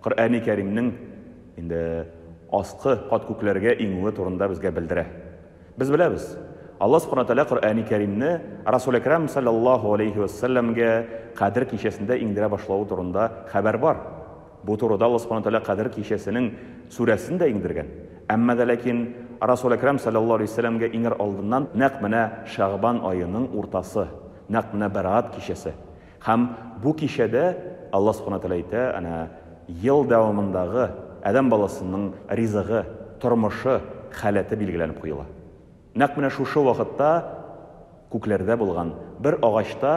Коръәни Кәримнең инде аскы кат күкләргә иңүе турында безгә белдерә. Без беләбез, Алла Субхана Тәгалә Коръәни Кәримне Расул Әкрам салләллаһу галәйһи вә сәлләмгә Кадер кичәсендә иңдерә башлавы турында хәбәр бар. Бу турыда Алла Субхана Тәгалә Кадер кичәсенең сүрәсен дә иңдергән. Әмма дә ләкин Расул Әкрам салләллаһу галәйһи вә сәлләмгә иңәр алдыннан нәкъ менә Шәгъбан аеның уртасы, нәкъ менә Бәраат кичәсе, Һәм бу кичәдә Алла Субхана Тәгалә әйтә, әнә, ел дәвамындагы адәм баласының ризыгы, тормышы, халәте билгеләнеп куела. Нәкъ менә шушы вакытта күкләрдә булган бер агачта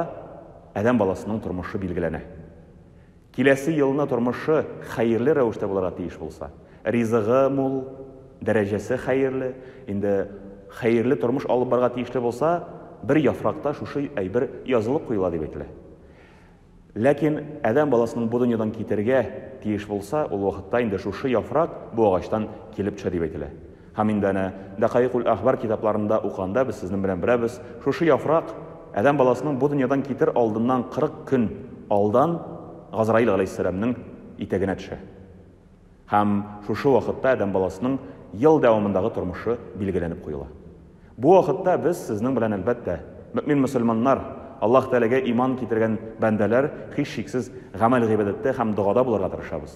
адәм баласының тормышы билгеләнә. Киләсе елны тормышы хәерле рәвештә булырга тиеш булса, ризыгы мул, дәрәҗәсе хәерле, инде хәерле тормыш алып барырга тиешле булса, бер яфракта шушы әйбер язылып куела дип әйтелә. Ләкин адәм баласының бу дөньядан китәргә тиеш булса, ул вакытта инде шушы яфрак бу агачтан килеп төшә дип әйтелә. Һәм инде әнә Дәкаикуль-әхбар китапларында укыганда без сезнең белән беләбез, шушы яфрак адәм баласының бу дөньядан китер алдыннан кырык көн алдан Газраил галәйһиссәламнең итәгенә төшә. Һәм шушы вакытта адәм баласының ел дәвамындагы тормышы билгеләнеп куела. Бу вакытта без сезнең белән, әлбәттә, мөэмин мөселманнар, Аллаһ Тәгаләгә иман китергән бәндәләр, һичшиксез, гамәл-гыйбадәттә һәм догада булырга тырышабыз.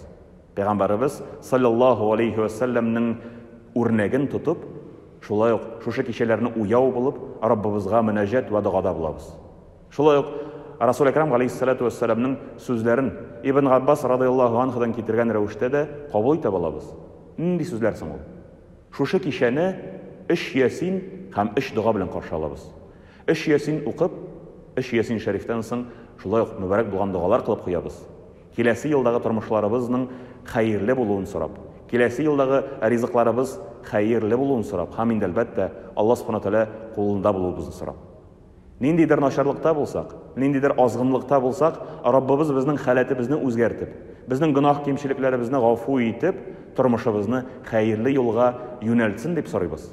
Пәйгамбәребез, салләллаһу алейһи вә сәлләмнең үрнәген тотып, шулай ук шушы кичәләрне уяу булып, Раббыбызга мөнәҗәт вә догада булабыз. Шулай ук Расул Әкрам галейһиссәләтү вә сәләмнең сүзләрен Ибн Габбас радыяллаһу анһудан китергән рәвештә дә кабул итә балабыз. Нинди сүзләр соң ул? Шушы кичәне өч ясин һәм өч дога белән каршы алабыз. Өч ясин укып, өч ясин шәрифтән соң шулай ук мөбарәк булган догалар кылып куябыз. Киләсе елдагы тормышларыбызның хәерле булуын сорап, киләсе елдагы ризыкларыбыз хәерле булуын сорап һам инде, әлбәттә, Алла Субхана Тәгалә кулында булуыбызны сорап. Ниндидер начарлыкта булсак, ниндидер азгынлыкта булсак, Раббыбыз безнең халәтебезне үзгәртеп, безнең гөнаһ-кимчелекләребезне гафу итеп, тормышыбызны хәерле юлга юнәлтсен дип сорыйбыз.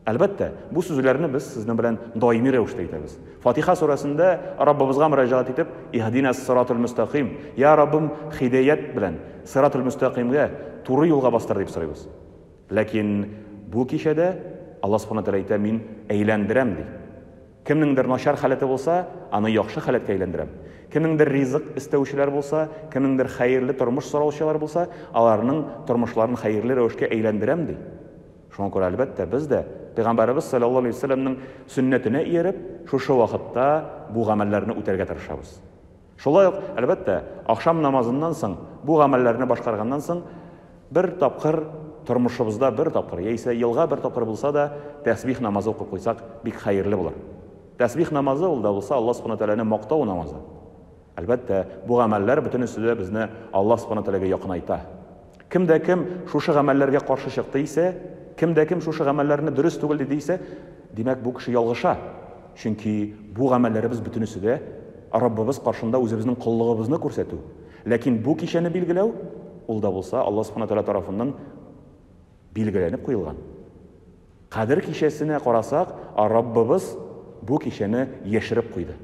Әлбәттә, бу сүзләрне без сезнең белән даими рәвештә әйтәбез. Фатиха сүрәсендә Раббыбызга мөрәҗәгать итеп, Иһдинәс сыратул мөстәкыйм, Йа Раббым, һидәят белән, сыратул мөстәкыймгә, туры юлга бастыр, дип сорыйбыз. Ләкин бу кичәдә Алла Субхана Тәгалә әйтә, Мин әйләндерәм, ди. Кемнеңдер начар халәте булса, аны яхшы халәткә әйләндерәм. Кемнеңдер ризык эстәүчеләр булса, кемнеңдер хәерле тормыш сораучылар булса, аларның тормышларын хәерле рәвешкә әйләндерәм, ди. Шуңа күрә, әлбәттә, без дә, Пәйгамбәребез салләллаһу алейһи вә сәлләмнең сөннәтенә ияреп, шушы вакытта бу гамәлләрне үтәргә тырышабыз. Шулай ук, әлбәттә, ахшам намазыннан соң бу гамәлләрне башкарганнан соң, бер тапкыр, тормышыбызда бер тапкыр, яисә елга бер тапкыр булса да, тәсбих намазы укып куйсак, бик хәерле булыр. Тәсбих намазы, ул да булса, Аллаһ Субхана Тәгаләне мактау намазы. Әлбәттә, бу гамәлләр бөтенесе дә безне Аллаһ Субхана Тәгаләгә якынайта. Кем дә кем шушы гамәлләргә каршы чыкты исә, кем дә кем шушы гамәлләрне дөрес түгел диде исә, димәк, бу кеше ялгыша. Чөнки бу гамәлләребез бөтенесе дә Раббыбыз каршында үзебезнең коллыгыбызны күрсәтү. Ләкин бу кичәне билгеләү, ул да булса Аллаһ Субхана Тәгалә тарафыннан билгеләнеп куелган. Кадер кичәсенә карасак, Раббыбыз бу кичәне яшереп куйды.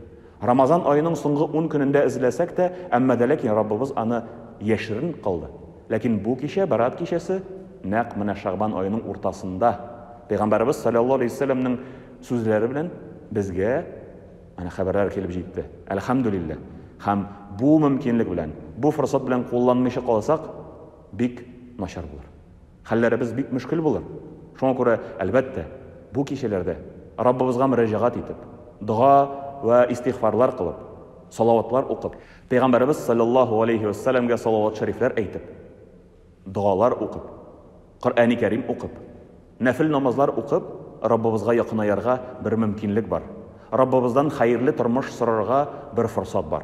Рамазан аеның соңгы ун көнендә эзләсәк тә, әмма дә ләкин Раббыбыз аны яшерен кылды. Ләкин бу кичә, Бәраат кичәсе, нәкъ менә Шәгъбан аеның уртасында, Пәйгамбәребез салләллаһу алейһи вә сәлләмнең сүзләре белән безгә менә хәбәрләр килеп җитте. Әлхәмдүлилләһ! Һәм бу мөмкинлек белән, бу форсат белән кулланмыйча калсак, бик начар булыр. Хәлләребез бик мөшкел булыр. Шуңа күрә, әлбәттә, бу кичәләрдә Раббыбызга мөрәҗәгать итеп, дога вә истигъфарлар кылып, салаватлар укып, Пәйгамбәребез салләллаһу галәйһи вә сәләмгә салават-шәрифләр әйтеп, догалар укып, Коръәни Кәрим укып, нәфел намазлар укып, Раббыбызга якынаярга бер мөмкинлек бар, Раббыбыздан хәерле тормыш сорарга бер форсат бар.